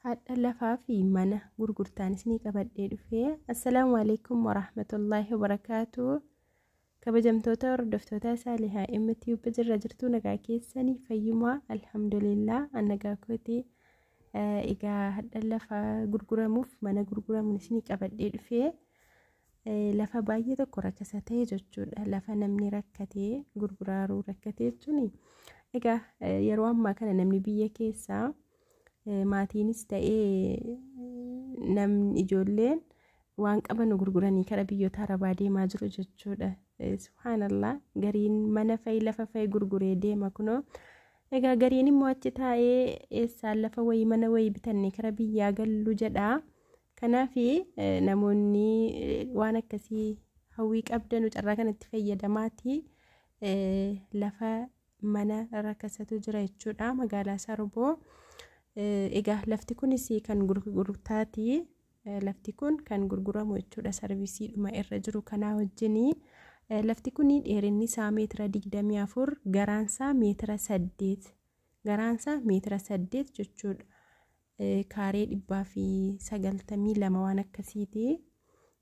hadha lafaa fi mana gurgurtaan isinii qabadhee dhufee assalaamu alaikum warahmatullaahi wabarakaatu kabajamtoota hordoftoota saalihaa mtube jirra jirtuu nagaa keessanii fayyumaa alhamdulillah annagaa kooti egaa hadha lafaa gurguramuuf mana gurguramuun isinii qabadhee dhufee lafa baay'ee tokko rakkasa ta'e jechuudha lafa namni rakkatee gurguraaruu rakkate jechuun egaa yeroo ammaa kana namni biyya keessaa Maatiinis ta'ee namni ijoolleen waan qaban gurguranii kara biyyoota arabaa deemaa jiru jechuudha. Subhaanallah gariin mana fa'i lafa fa'i gurguree deema kunoo. Egaa gariin immoo achi taa'ee eessaan lafa wayii mana wayii bitannee kara biyyaa gallu jedha. Kanaaf namoonni waan akkasii hawwii qabdanu carraa kanatti fayyadamaati lafa mana rakasatu jira jechuudha magaalaa Saruboo. Egaa lafti kunis kan gurgurtaati. Lafti kun kan gurguramu jechuudha sarvisiidhuma irra jiru kanaa wajjinii. Lafti kun dheerinni isaa meetira 24 garaan isaa meetira 8 garaan isaa meetira 8 jechuudha. Kaaree 192 waan akkasiiti.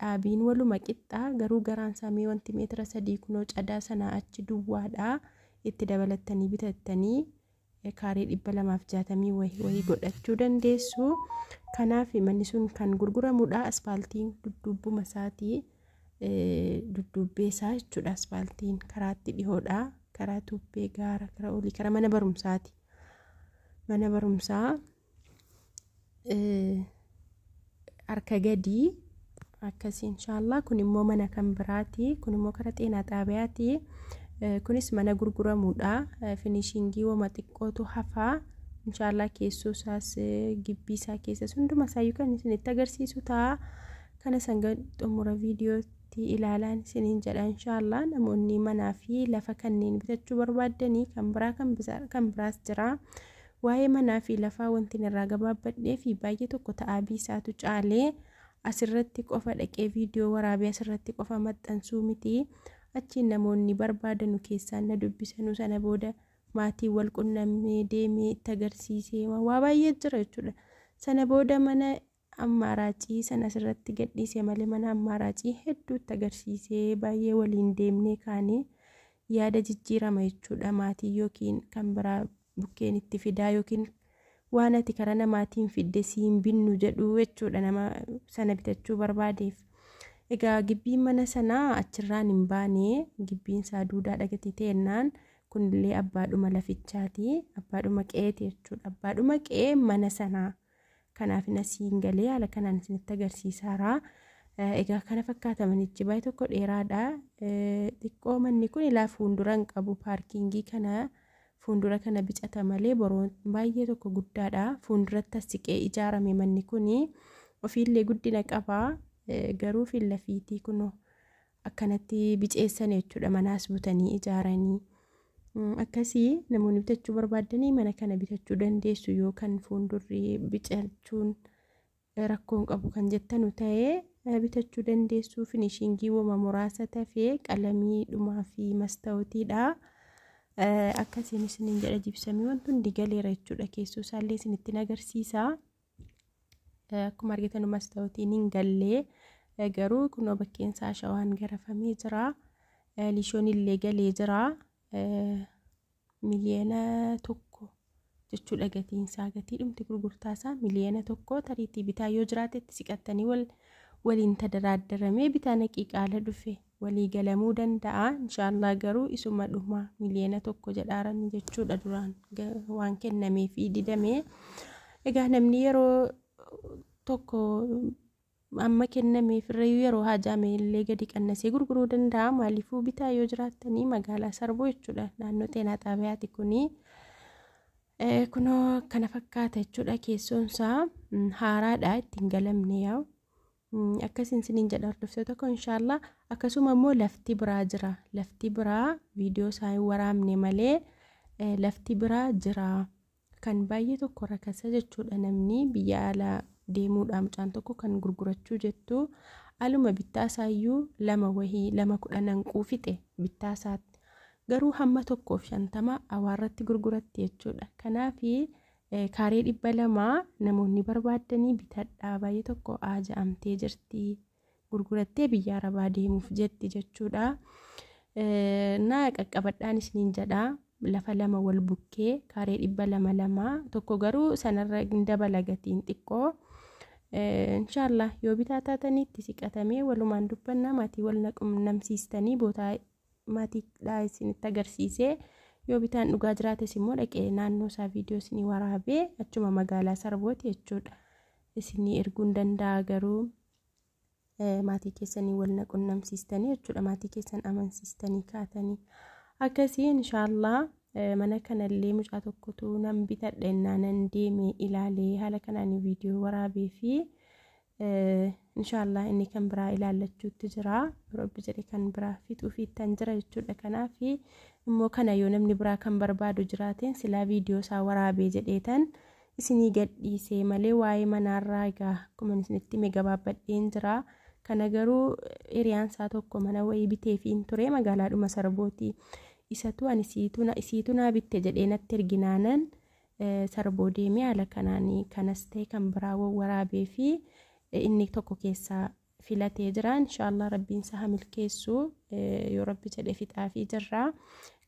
dhaabiin waluma qixxa garuu garaan isaa mee wanti meetira sadii kunoo cadaa sanaa achi duwwaadha itti dabalattanii bitattanii kaaree dhibba lamaaf jaatamii wayii wayii godhachuu dandeessu kanaaf manni sun kan gurguramudha aspaaltiin dudduubbuma isaatii dudduubbee isaa jechuudha aspaaltiin karaatti dhihoodha karaa tuubbee gaara karaa olii karaa mana barumsaati mana barumsaa harka gadii akkasii inshaallah kun immoo mana kan biraati kun immoo kara xeenaa xaabiyaati kunis mana gurguramuudha finishingii wama xiqqootu hafaa inshaallah keessoo isaas gibbii isaa keessas hunduma isaa yookaan isinitti agarsiisu ta'a kana sanga xumura viidiyootti ilaalaan isiniin jedha inshaallah namoonni manaa fi lafa kanneen bitachuu barbaaddanii kan biraa kan biraas jira Waa'ee manaa fi lafaa wantin irraa gabaabbadhee fi baay'ee tokko ta'aa biisaatu caale. As irratti qofa dhaqee viidiyoo waraabee as irratti qofa maxxansuu miti. Achiin namoonni barbaadanu keessaan na dubbisanu sana booda maatiin wal qunnamnee deemee itti agarsiisee waa baay'ee jira jechuudha. Sana booda mana Ammaaraacii san asirratti gadhiise malee mana ammaaraacii hedduutti agarsiisee baay'ee waliin deemnee kaanee yaada jijjiirama jechuudha maatii yookiin kan biraa bukkeen itti fidaa yookiin waan ati karaa namaatiin fidde siin binnu jedhu jechuudha nama sana bitachuu barbaadeef. Egaa gibbiin mana sanaa achirraan hin baane gibbiin isaa duudaa dhagatii teennaan kunillee abbaadhuma lafichaati abbaadhuma qe'eeti jechuudha abbaadhuma qe'ee mana sanaa. Kanaaf na siin galee haala kanaan isinitti agarsiisaara. Egaa kana fakkaata manichi baay'ee tokko dheeraadha. Xiqqoo manni kun ilaa fuuldura hin qabu paarkingii kana fuuldura kana bicata malee boroon baay'ee tokko guddaadha. Fuulduratti siqee ijaarame manni kun ofiillee guddina qaba garuu fiillafiitii kunoo akkanatti biceessan jechuudha manaas butanii ijaaranii akkasii namoonni bitachuu barbaaddanii mana kana bitachuu dandeessu yoo kan fuuldurri biqilchuun rakkoon qabu kan jettanu ta'ee bitachuu dandeessu finishiingii woma muraasa tafee qalamii dhumaa fi mastawutiidha akkasiin isiniin jedha jibsamii wanti hundi galeera jechuudha keessoo isaallee isinitti agarsiisa. Akkuma argitan mastawutiin hin gallee garuu kunoo bakkeen isaa shawaan garafamee jira. Lishoon illee galee jira. Miliyoona tokko jechuudha gatiin isaa gatii dhumti gurgurtaa isaa miliyoona tokko tariitii bitaa yoo jiraatetti siqattanii wal waliin tadaraaddaramee bitaa naqii qaala dhufe walii galamuu danda'a inshaallaa garuu isuma dhuma miliyeena tokko jedhaarani jechuudha duraan waan kennamee fi didame egaa namni yeroo tokko amma kennameef irrayyuu yeroo haajaame illee gadi qannasee gurguruu danda'a maaliifuu bitaa yoo jiraattanii magaalaa sarbuu jechuudha naannoo xeenaa xaabiyaati kunii kunoo kana fakkaata jechuudha keessoonsaa haaraadha ittiin galamne yaa Akkasin isiniin jedha hordoftoota koo inshaallaa akkasuma immoo lafti biraa jira lafti biraa viidiyoo isaa hin waraabne malee lafti biraa jira kan baay'ee tokko rakasa jechuudha namni biyya alaa deemuudha mucaan tokko kan gurgurachuu jettu aluma bittaa isaayyuu lama wahii lama kudha nanquu fixe bittaa isaatti garuu hamma tokkoof shantama awaarratti gurguratti jechuudha kanaafi Kaaree dhibba lama namoonni barbaaddanii bitadhaa baay'ee tokko aaja'amtee jirti gurgurattee biyya arabaa deemuuf jetti jechuudha. Na qaqqabadhaan isiniin jedha lafa lama wal bukkee kaaree dhibba lama lama tokko garuu sanarra hin dabala gatiin xiqqoo. Inshaallah yoo bitaa taatanitti siqatamee walumaan dubbannaa maatii wal naqumnamsiistanii bootaa maatiidhaa isinitti agarsiisee yoo bitaan dhugaa jiraates immoo dhaqee naannoo isaa viidiyoo isinii waraabee achuma magaalaa sarbooti jechuudha isinii erguun danda'a garuu maatii keessanii wal na qunnamsiistanii jechuudha maatii keessan amansiistanii kaatanii akkasii inshaallah mana kanallee mucaa tokkotu nan bitadhe innaa nan deeme ilaalee haala kanaan viidiyoo waraabee fi Inshaallah inni kan biraa ilaallachuutti jira rabbi jedhe kan biraa fixuufi ittan jira jechuudha kanaaf immoo kana yoo namni biraa kan barbaadu jiraateen silaa viidiyoo isaa waraabee jedheetan isinii gadhiisee malee waa'ee manaarraa egaa akkuma isinitti hime gabaabbadheen jira kana garuu hiriyaan isaa tokko mana wayii biteefiin ture magaalaadhuma sarbooti isatu ani isiitu naa bitte jedhee natti erginaanan Sarboo deemee haala kanaan kanas ta'e kan biraa waraabee fi inni tokko keessaa filatee jira. Inshaallah rabbiin isaa hamilkeessu yoo rabbi jedhe fixaa fi jirra.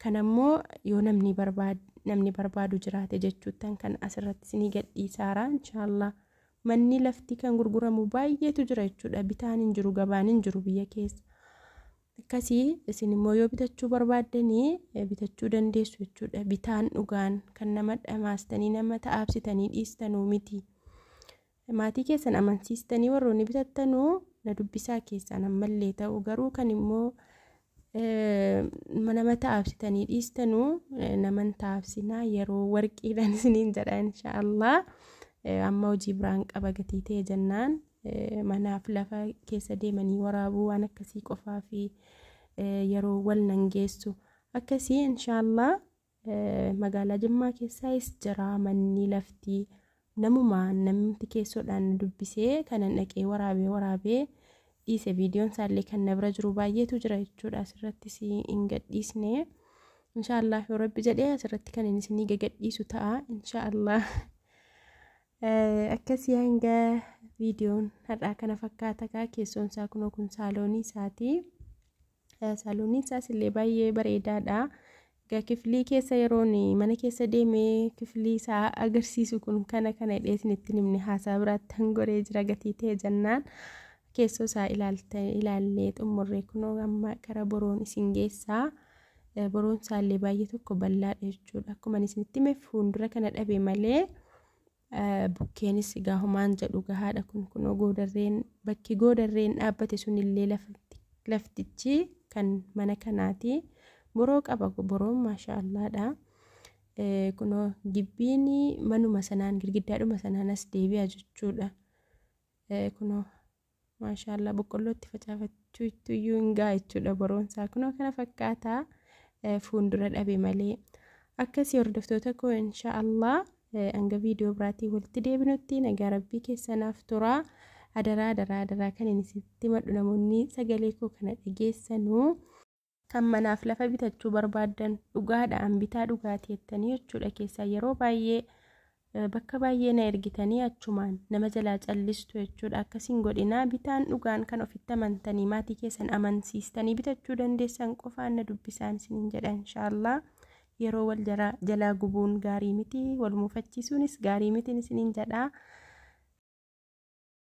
Kan ammoo yoo namni barbaadu namni barbaadu jiraate jechuuttan kan asirratti isinii gadhiisaara. Inshaallah manni lafti kan gurguramu baay'eetu jira jechuudha. Bitaan hin jiru gabaan hin jiru biyya keessa. Akkasii isin immoo yoo bitachuu barbaaddanii bitachuu dandeessu jechuudha. Bitaan dhugaan kan nama dhamaastanii nama ta'aabsitanii dhiistanuu miti. Maatii keessan amansiistanii warroonni bitattanuu na dubbisaa keessaan ammallee ta'u garuu kan immoo nama ta'aabsitanii dhiistanuu naman ta'aabsinaa yeroo warqiidhaan isiniin jedha inshaallah. Amma hojii biraan qaba gatii ta'e jennaan manaaf lafa keessa deemanii waraabuu waan akkasii qofaa fi yeroo wal nan geessu akkasii inshaallah magaalaa jimmaa keessaayis jira manni laftii namuma namti keessoodhaan dubbisee kanan dhaqee waraabee waraabee dhiise viidiyoon isaallee kan na bira jiru baay'eetu jira jechuudha asirrattis hin gadhiisne inshaallah yoo rabbi jedhee asirratti kan inni isinii gagadhiisu ta'a inshaallah Akkasii hanga viidiyoon har'aa kana fakkaata kaa keessoon isaa kunoo kun saaloonii isaati. Saalooniin isaas illee baay'ee bareedaadha. Egaa kifilii keessa yeroon mana keessa deemee kifilii isaa agarsiisu kun kana kana hidhee isinitti himne haasaa biraatti hangoree jira gatii ta'e jennaan. Keessoo isaa ilaallee xumurree kunoo amma gara boroon isin geessaa. Boroon isaallee baay'ee tokko bal'aadha jechuudha. Akkuma ani isinitti hime fuuldura kana dhabe malee bukkeenis egaa homaan jedhu gahaadha kun kunoo goodarreen bakki goodarreen dhaabbate sunillee laftichi kan mana kanaati. Boroo qaba boroon maashaallaadha. Kunoo gibbiin manuma sanaan girgiddaadhuma sanaan as deebi'a jechuudha. Kunoo Maashaallah boqqolloo itti facaafachuu ittu iyyuu hin ga'a jechuudha boroon isaa kunoo kana fakkaata fuundura dhabe malee. Akkasii hordoftoota koo insha Allah hanga viidiyoo biraatii walitti deebinutti nagaa rabbii keessanaaf turaa. Adaraa adaraa adaraa kan inni sitti madhu namoonni sagalee koo kana dhageessanuu. Kan manaaf lafa bitachuu barbaaddan dhugaadha an bitaa dhugaati jettanii jechuudha keessaa yeroo baay'ee eh, bakka baay'ee na ergitanii achumaan nama jalaa callistu jechuudha akkasiin godhinaa bitaan dhugaan kan ofitti amantanii maatii keessan amansiistanii bitachuu dandeessan qofaan na dubbisaan isiniin jedha inshaallah yeroo wal jara- jalaa gubuun gaarii miti wal muufachiisuunis gaarii mitiin isiniin jedhaa